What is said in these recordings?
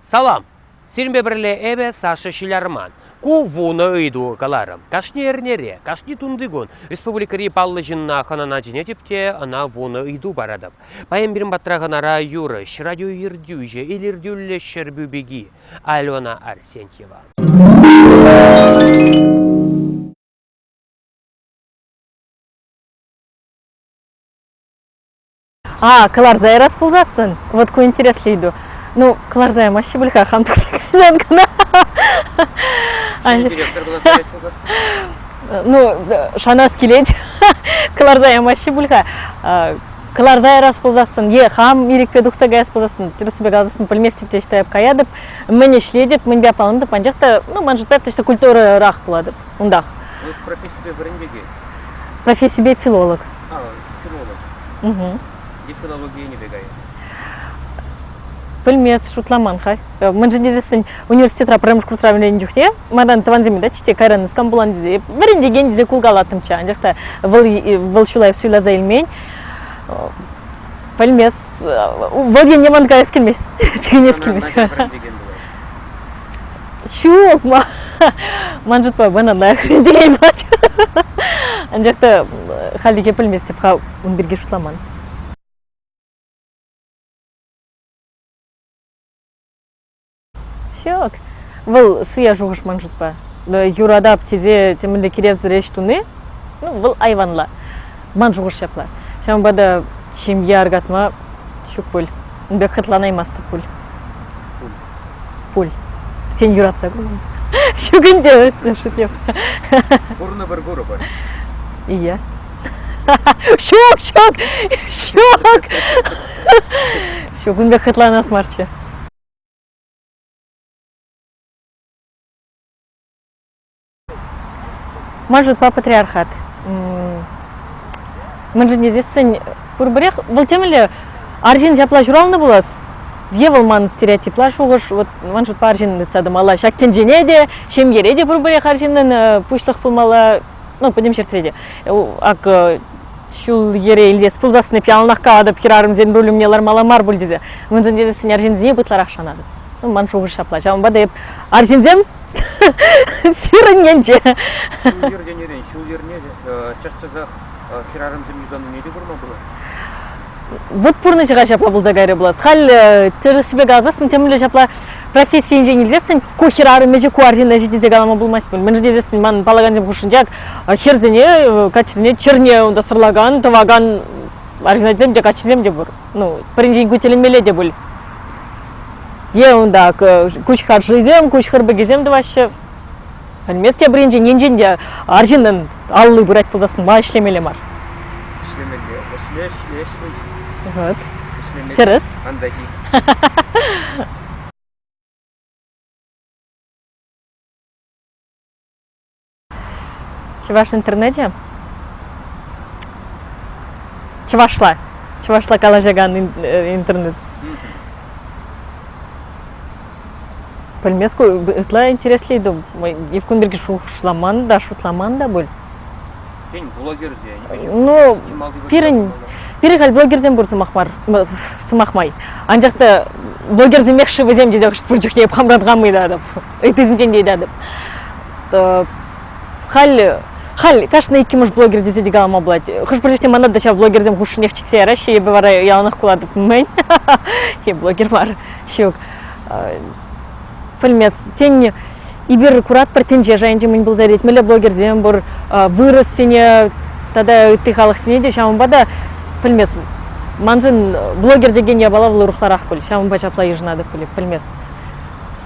Салам! Сирӗнпе пӗрле эпӗ, Саша Ҫилярман. Ку вунӑ ыйту каларӑм. Кашни эрнере, кашни тунти кун республикӑри паллӑ ҫынна хӑнана чӗнетӗп те ӑна вунӑ ыйту паратӑп. Паян пирӗн патра хӑнара юрӑҫ, радио ертӳҫӗ, илӗртӳллӗ Ҫӗрпӳ пики Альбина Арсентьева. А, кӑларса ярас пулсассӑн, вот ку интереслӗ ыйту. Ну, кӑларса ямаҫҫӗ пуль-ха, хам тухса кайсан кӑна. Ну, шанас килет, кӑларса ямаҫҫӗ пуль-ха. Кӑларса ярас пулсассӑн, е хам ирӗкпе тухса каяс пулсассӑн, тӗрӗссипе каласассӑн пӗлместӗп те считаеп каятӑп, мӗн ӗҫлетӗп, мӗнпе аппалантӑп, анчах та, ну, ман шутпа, точно культурӑрах пулатӑп унтах. Вы с профессией вырӑн пекех. Профессипе филолог. филолог. Угу. Нефрологи енӗпе кайнӑ. Пӗлмес, шутламан-ха. Э, мӗншӗн тесен университетра пӗрремӗш курсра вӗреннӗ чухне манран тӑвансем та чите кайран скан пулан тесе вӗрентекен тесе кулкалаттӑмччӗ. Анчах та вӑл, вӑл ҫулай суйласа илмен. Э, пӗлмес, вӑл енне ман каяс килмест. Чикӗнес килмест. ҫук ман шутпа вынӑна хрен анчах та хальлӗхе пӗлместӗп-ха ун пирки шутламан ҫук вӑл суя шухӑш ман шутпа юратап тесе темӗнле киревсӗр ӗҫ туни ну вӑл айванла Ман шухӑш ҫапла. Ҫавӑнпа та ҫемье аркатма ҫук пуль. Ун пек хӑтланаймастӑп пуль. Пуль. Пуль. Тен, юратса курман. Ҫук ӗнтӗ, шутем. Курнӑ-пӗр курӑпӑр. Ия. Ҫук, ҫук, ҫук. Ҫук, ун пек хӑтланас марччӗ. Мӑшӑрпа патриархат. Мӗншӗн тесессӗн пурпӗрех вӑл темӗнле арҫын ҫапла ҫуралнӑ пулас. Е вӑл ман стереотипла шухӑш, вот ман шутпа арҫын тытса тӑмалла. Ҫак тӗнчене те, ҫемьере те пурпӗрех арҫыннӑн пуҫлӑх пулмалла, ну, пӗтӗм ҫӗртре те. Акӑ, ҫул-йӗре илтес пулсассӑн эп яланах калатӑп хӗрарӑмсен руль умне лармалла мар пуль тесе. Мӗншӗн тесессӗн арҫынсене ытларах шанатӑп. Ну, ман шухӑш ҫапла. Ҫавӑнпа та эп арҫынсем Сирӗн енче. Ҫул-йӗр тенӗрен ҫул-йӗрне час-часах хӗрарӑмсем юсанине те курма пулать. Вот пурнӑҫа ҫапла пулса кайрӗ пулас. Халь тӗрӗссипе каласассӑн темле ҫапла профессийӗнчен илсессӗн ку хӗрарӑм ӗҫӗ ку арҫынна ӗҫӗ тесе калама пулмасть пуль. Мӗн тесессӗн ман паллакансем хушшинче хӗрсене, каччисене чӗрне унта сӑрлакан, тӑвакан арҫынсем те, каччисем те пур. ну, пӗринчен ку тӗлӗнмелле те пуль. Е унта куҫхар шӑйсем, куҫхар пӗкӗсем тӑваҫҫӗ. Пӗлмест те пӗринчен енчен те арҫыннӑн алли пырать пулсассӑн ма ӗҫлемелле мар? Ӗҫлемелле, ӗҫле, ӗҫле, ӗҫле. Ӗҫлемелле. Тӗрӗс. Антаҫи. Чӑваш интернечӗ чӑвашла чӑвашла калаҫакан интернет. Пӗлмес ку ытла интересли ту. Эп кун пирки шухӑшламан та, шутламан та пуль. Тен, блогерсен? Ну, пирӗн, пирӗн халь блогерсем пур сӑмах мар, сӑмах май. Анчах та блогерсемех-ши вӗсем тесе хӑш пур чухне хам та тӑмӑйтатӑп. ыйтусенчен те ыйтатӑп халь халь кашни иккӗмӗш блогер тесе те калама пулать хӑш-пӗр чухне мана та ҫав блогерсем хушшинех чиксе яраҫҫӗ эпӗ вара яланах кулатӑп мӗн е блогер мар ҫук пӗлмес тен эпир куратпӑр тӗнче шайӗнче мӗн пулса иртет мӗнле блогерсем пур вырӑссене тата ытти халӑхсене те ҫавӑнпа та пӗлместӗм маншӑн блогер текен япала вӑл урӑхларах пуль ҫавӑнпа ҫапла йышӑнатӑп пуль пӗлместӗм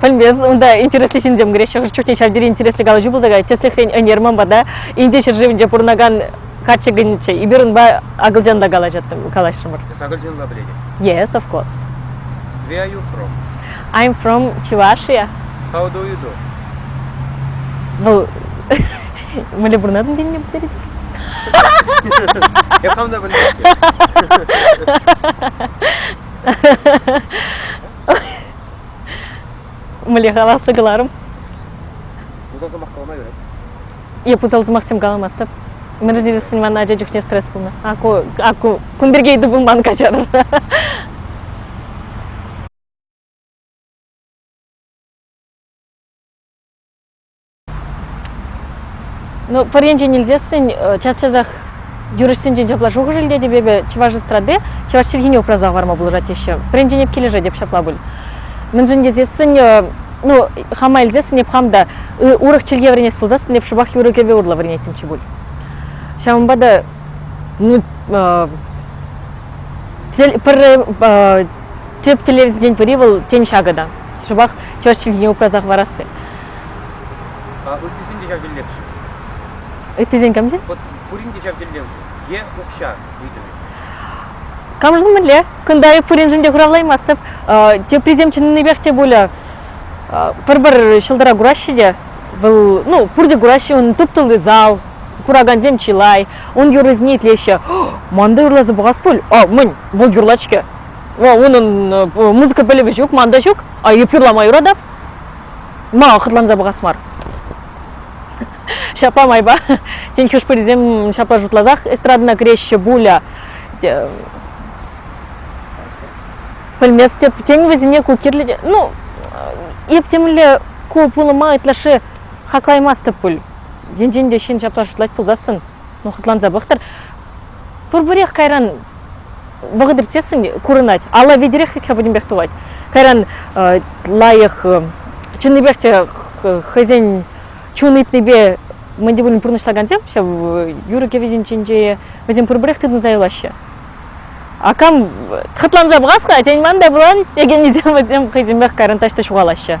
Пӗлмес, унта интереслӗ ҫынсем кӗреҫҫӗ. Хӑш чухне ҫав тери интереслӗ калаҫу пулса каять. Тӗслӗхрен, ӗнер ман пата Инди ҫӗршывӗнче пурӑнакан каччӑ килнӗччӗ. Эпир унпа акӑлчан та калаҫаттӑм, калаҫрӑмӑр. Эс акӑлчанла пӗлетӗн? Yes, of course. Where are you from? I'm from Чувашия. How do you do? Вӑл мӗнле пурӑнатӑн тенине пӗлтерет. Я правда по-немецки? Мӗнле каласса кӑларӑм? Пусал сӑмах калама юрать. Я пусал сӑмахсем каламастӑп. Мӗншӗн тесен ман ача чухне стресс пулнӑ. Ку, ку кун пирки ыйту пулман каҫар. Ну, пӗр енчен илсессӗн час-часах юрӑҫсенчен ҫапла шухӑш илтетӗп эпӗ, чӑваш эстради чӑваш чӗлхине упраса хӑварма пулӑшать теҫҫӗ. Пӗринчен эп килӗшетӗп ҫапла пуль. Мӗншӗн тесессӗн, ну, хама илсессӗн эп хам та урӑх чӗлхе вӗренес пулсассӑн эп шӑпах юрӑ-кӗвӗ урлӑ вӗренеттӗмччӗ пуль. Ҫавӑнпа та ну, тӗп тӗллевсенчен пӗри вӑл тен ҫакӑ та. Шӑпах чӑваш чӗлхине упраса хӑварасси. А ыттисен те ҫав тӗллевшӗн. Ыттисен камсен? Вот пурин те ҫав тӗллевшӗн. Е укҫа ыйтӑвӗ. Камшӑн мӗнле? Кунта эп пуриншӗн те хуравлаймастӑп. Теприсем чӑннипех те пулӗ пӗр-пӗр ҫӑлтӑра кураҫҫӗ те. Вӑл, ну, пурте кураҫҫӗ, унӑн тӗп тулли зал, куракансем чылай, ун юррисене итлеҫҫӗ. Манта юрласа пӑхас пуль? А, мӗн, вӑл юрлать-ҫке. Унӑн музыка пӗлӗвӗ ҫук, ман та ҫук. А эп юрлама юратап. ма хӑтланса пӑхас мар ҫапла майпа тен хӑш-пӗрисем ҫапла шутласах эстрадӑна кӗреҫҫӗ пуля пӗлместӗп тен вӗсене ку кирлӗ ну ептемле ку пулӑма ытлашши хаклаймастӑп пуль енчен те ҫын ҫапла шутлать пулсассӑн ну хӑтланса пӑхтӑр пурпӗрех кайран вӑхӑт иртсессӗн курӑнать. Алла витӗрех вит-ха пӗтӗмпех тухать. Кайран лайӑх чӑннипех те хӑйсен чун ыйтнипе мӗн те пулин пурнӑҫлакансем ҫав юрӑ-кӗвӗсен ҫинче вӗсем пурпӗрех тытӑнса юлаҫҫӗ. А кам хӑтланса пӑхас-ха, тен, ман та пулан текеннисем вӗсем хӑйсемех кайран таҫта ҫухалаҫҫӗ.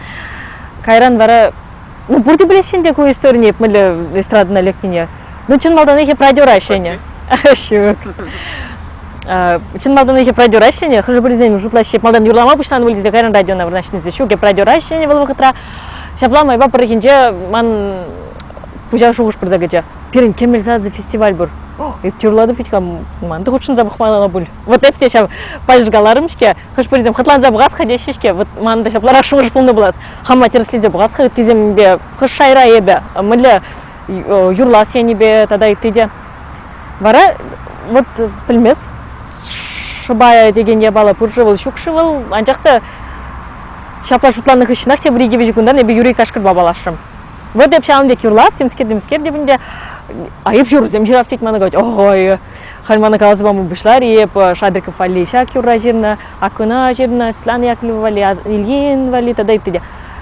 Кайран вара, ну пурте пӗлеҫҫӗ ӗнтӗ ку историне, эп мӗнле эстрадӑна лекнине. Ну чӑн малтанахи продюраҫҫӗ ӗнӗ. Ҫук. Чӑн малтанахи продюраҫҫӗ ӗнӗ, хӑшӗ-пӗрисем шутлаҫҫӗ, малтан юрлама пуҫланӑ пуль тесе кайран радиона вырнаҫнисем. Ҫук, эп продюраҫҫӗ ӗнӗ вӑл вӑхӑтра. Ҫапла майпа пӗррехинче ман пуҫа шухӑш пырса кӗчӗ. Пирӗн кемел сасӑ фестиваль пур. Эп те юрлатӑп вӗт-ха, ман та хутшӑнса пӑхман ӑна пуль. вот эти те ҫав пачӑкаларӑм-ҫке хӑш-пӗрисем хӑтланса пӑхас-ха теҫҫӗ-ҫке вот манӑн ҫапларах шухӑш пулнӑ пулас хама тӗрӗслесе пӑхас-ха ыттисемпе хӑш шайра эпӗ мӗнле юрлас енӗпе тата ытти те вара вот пӗлмес шӑпая текен япала пур-ши вӑл ҫук-ши вӑл анчах та ҫапла шутланнӑ хыҫҫӑнах тепӗр икӗ-виҫӗ кунтан эпӗ Юрий Кашкӑрпа паллашрӑм вот эп ҫавӑн пек юрлав темскер темскер те ӗнтӗ айӑп юрӑсем ҫырап тет мана говорит ой Халь мана каласа пама пуҫлар-и эп Шабиков валли ҫак юрра ҫырнӑ, Акуна ҫырнӑ, Светлана Яковлева валли, Ильин валли тата ытти те.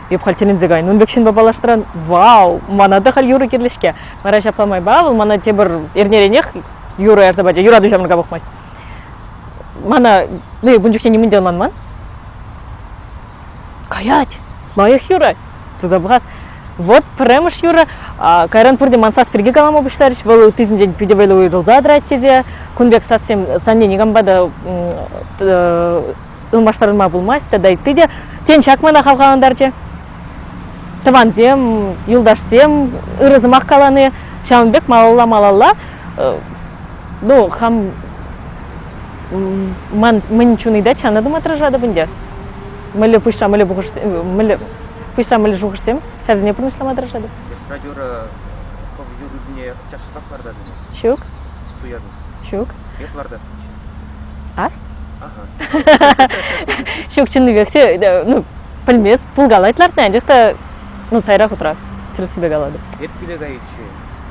Эп халь тӗлӗнсе кайнӑ. Ун пек ҫынпа паллаштаран, вау, мана та халь юрӑ кирлӗ-ҫке. Вара ҫапла майпа вӑл мана тепӗр эрнеренех юрӑ ярса пачӗ. Юрату ҫамрӑка пӑхмасть. Мана ну, ун чухне нимӗн те ӑнланман. Каять, лайӑх юрать. тытса пӑхас. Вот пӗрремӗш юрӑ. Кайран пурте ман сас пирки калама пуҫларӗҫ. Вӑл ытисенчен питӗ вӑйлӑ уйрӑлса тӑрать тесе кун пек сассем санне никампа та ылмаштарма пулмасть тата ытти те. Тен, ҫак мана хавхалантарчӗ. Тӑвансем, юлташсем ырӑ сӑмах калани ҫавӑн пек малалла-малалла ну хам ман мӗн чуни те чанатӑм отражатӑп ӗнтӗ мӗнле пуҫра мӗнле шухӑшсем мӗнле пуҫра мӗнле шухӑшсем ҫавсене пурнӑҫлама тӑрӑшатӑп эстрадера хӑв юррисене час-часах лартатӑн-и? ҫук суятӑн ҫук эп лартатӑн-ччӗ а? ага ҫук чӑннипех те ну пӗлмест пулкалать лартни анчах та ну сайра хутра тӗрӗссипе калатӑп эп киле кайиччен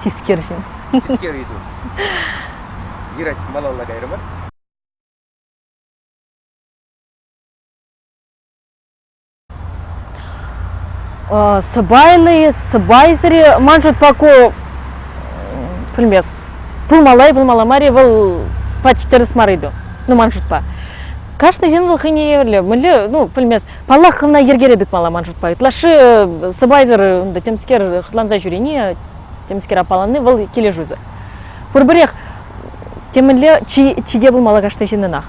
Тискер ҫын. Тискер ыйту. Юрать малалла кайрӑмӑр. сӑпайнӑй сӑпайсӑри ман шутпа ку пӗлмес пулмалла пулмалла мар вӑл почти тӗрӗс мар ыйту ну ман шутпа кашни ҫын вӑл хӑйне евӗрлӗ мӗнле ну пӗлмес Паллах, хӑвна йӗркере тытмалла ман шутпа. Ытлашши э, сӑпайсӑр ынтӑ темскер хӑтланса ҫӳрени, темскер аппаланни вӑл килӗшӳсӗр. Пурпӗрех темӗнле чике пулмалла кашни ҫыннӑнах.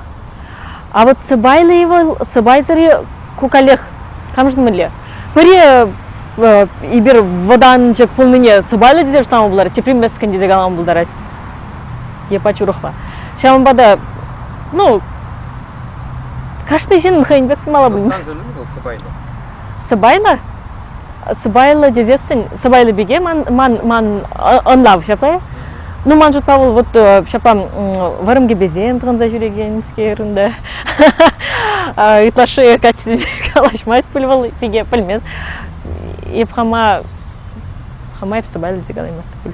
А вот сӑпайлӑ-и вӑл, сӑпайсӑр-и, ку каллех камшӑн мӗнле? Пӗри э, эпир вӑтанчӑк пулнине сӑпайлӑ тесе шутлама пултарать, тепри мӗскӗн тесе калама пултарать. Е пач урӑхла. Ҫавӑнпа та, ну, Кашни ҫыннӑн хӑйӗн пек пулмалла пулин. Сан сӑнӳн вӑл сӑпайлӑ. Сӑпайлӑ? Сӑпайлӑ тесессӗн сӑпайлӑ пике ман ман ман ӑнлав ҫапла. Ну ман шутпа вӑл вот э, ҫапла вӑрӑм кӗпесем тӑхӑнса ҫӳрекенскер ӗнтӗ. Ытлашши каччисемпе калаҫмасть пуль вӑл пике пӗлмест. Эп хама хама эп сӑпайлӑ тесе калаймастӑп пуль.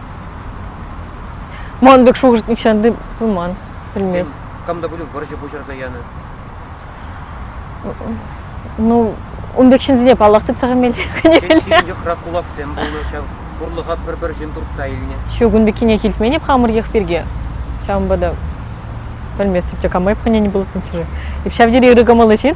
Ман пек шухӑш нихҫан та пыман, пӗлмест. Кам та пулин вӑрҫӑ пуҫӑрса янӑ. Ну, ун пек ҫынсене паллах тытса хэмелле, конечно. Сирӗн йӑхра кулаксем пулнӑ ҫав. Пурлӑха пӗр-пӗр ҫын туртса илнӗ. Ҫук, ун пеккине илтмен-и хамӑр йӑх пирки? Ҫавӑнпа та пӗлместӗп те, кама эп хӑнени пулаттӑм чӗре. Эп ҫав тери ырӑ кӑмӑллӑ ҫын.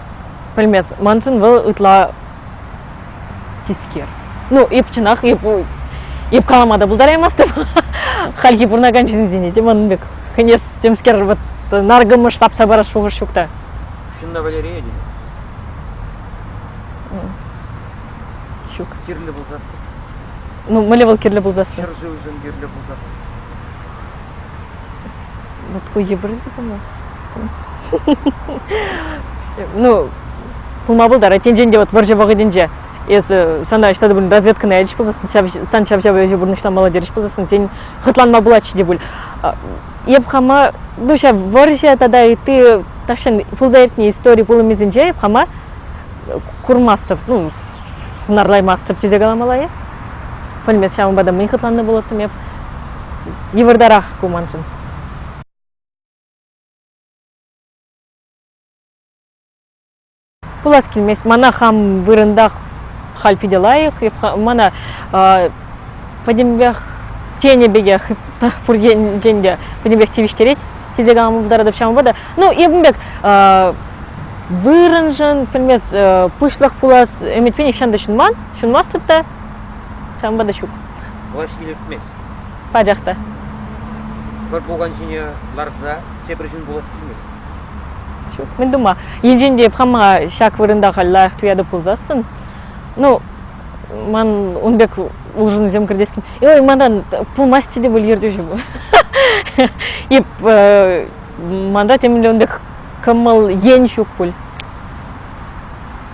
Пӗлмест. Маншӑн вӑл ытла тискер. Ну, эп чӑнах, эп, эп калама та пултараймастӑп. Хальхи пурӑнакан ҫынсене те ман пек хӗнес темскер вот наркӑмӑш тапса парас шухӑш ҫук та. Чӑн та Валерия тенӗ. Ҫук. Кирлӗ пулсассӑн. Ну, мӗнле вӑл кирлӗ пулсассӑн? Ҫӗршывшӑн кирлӗ пулсассӑн. Ну, такой йывӑрӑн пулнӑ. Ну, пулма пултарать. Тенчен те вот вӑрҫӑ вӑхӑтӗнче эсӗ сана ҫытатӑп пулин разведкӑна ячӗҫ пулсассӑн ҫав сан ҫав-ҫав ӗҫе пурнӑҫламалла терӗҫ пулсассӑн тен хӑтланма пулатчӗ те пуль. Эп хама ну ҫав вӑрҫӑ тата ытти тахҫан пулса иртнӗ истори пулӑмӗсенче эп хама курмастӑп, ну сӑнарлаймастӑп тесе каламалла-и? Пӗлмест ҫавӑнпа та мӗн хӑтланнӑ пулӑттӑм эп. Йывӑртарах ку маншӑн. Пулас килмест. Мана хам вырӑнтах халь питӗ лайӑх. Мана пӗтӗмпех тенӗ пекех пур енчен те пӗтӗмпех тивӗҫтерет тесе калама пултаратӑп ҫавӑнпа та. Ну, эпӗ пек вырӑншӑн, пӗлмест, пуҫлӑх пулас ӗмӗтпе нихҫан та ҫунман. Ҫунмастӑп та, ҫавӑнпа та ҫук. Влаҫ илӗртмест. Пачах та. Пӗр пукан ҫине ларса тепӗр ҫын пулас килмест. Ҫук, мӗн тума. Енчен те хама ҫак вырӑнта халь лайӑх туятӑп пулсассӑн, ну, ман ун пек улшӑнусем кӗртес килмест. Ой, манран пулмастчӗ те пуль ертӳҫӗ пу. Эп манра темӗнле ун пек кӑмӑл ен ҫук пуль.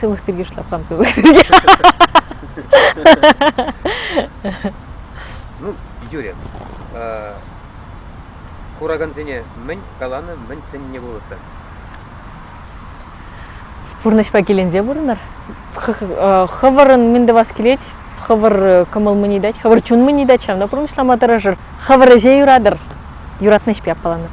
Сывлӑх пирки шутлапхам сывлӑх пирки. Ну, Юрий, куракансене мӗн каланӑ, мӗн сӗннӗ пулӑттӑр? Пурнӑҫпа киленсе пурӑнӑр. Хӑвӑрӑн мӗн тӑвас килет, хӑвӑр кӑмӑл мӗн ыйтать, хӑвӑр чун мӗн ыйтать, ҫавна пурнӑҫлама тӑрӑшӑр. Хӑвӑр ӗҫе юратӑр, юратнӑ ӗҫпе аппаланӑр.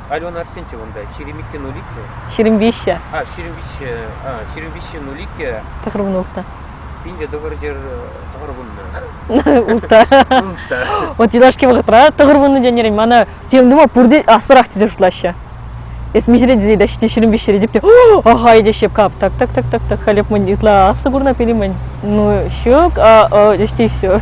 Алена Арсентьева унта, ҫирӗм иккӗ нуль иккӗ. Ҫирӗм виҫҫӗ. А, ҫирӗм виҫҫе, а, ҫирӗм виҫҫе нуль иккӗ. Тӑхӑр вун ултӑ. Пинте тӑхӑр ҫӗр, тӑхӑр вунна. Ултта. Ултта. Вот юлашки вӑхӑтра тӑхӑр вуннӑ тенӗрен мана тем тума пурте ассӑрах тесе шутлаҫҫӗ. Эс миҫере тесе та ҫити ҫирӗм виҫҫӗре типте, ахай те щепкап, так так так так так халӗ мӗн ытла аслӑ курна пели мӗн, ну ҫук, а ӑ ӗҫти все.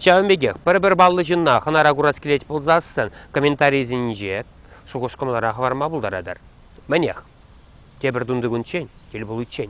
Ҫавӑн пекех пӗр-пӗр паллӑ ҫынна хӑнара курас килет пулсассӑн комментарисенче шухӑш-кӑмӑлӑра хӑварма пултаратӑр. Мӗнех, тепӗр тунтикунччен, тӗл пуличчен.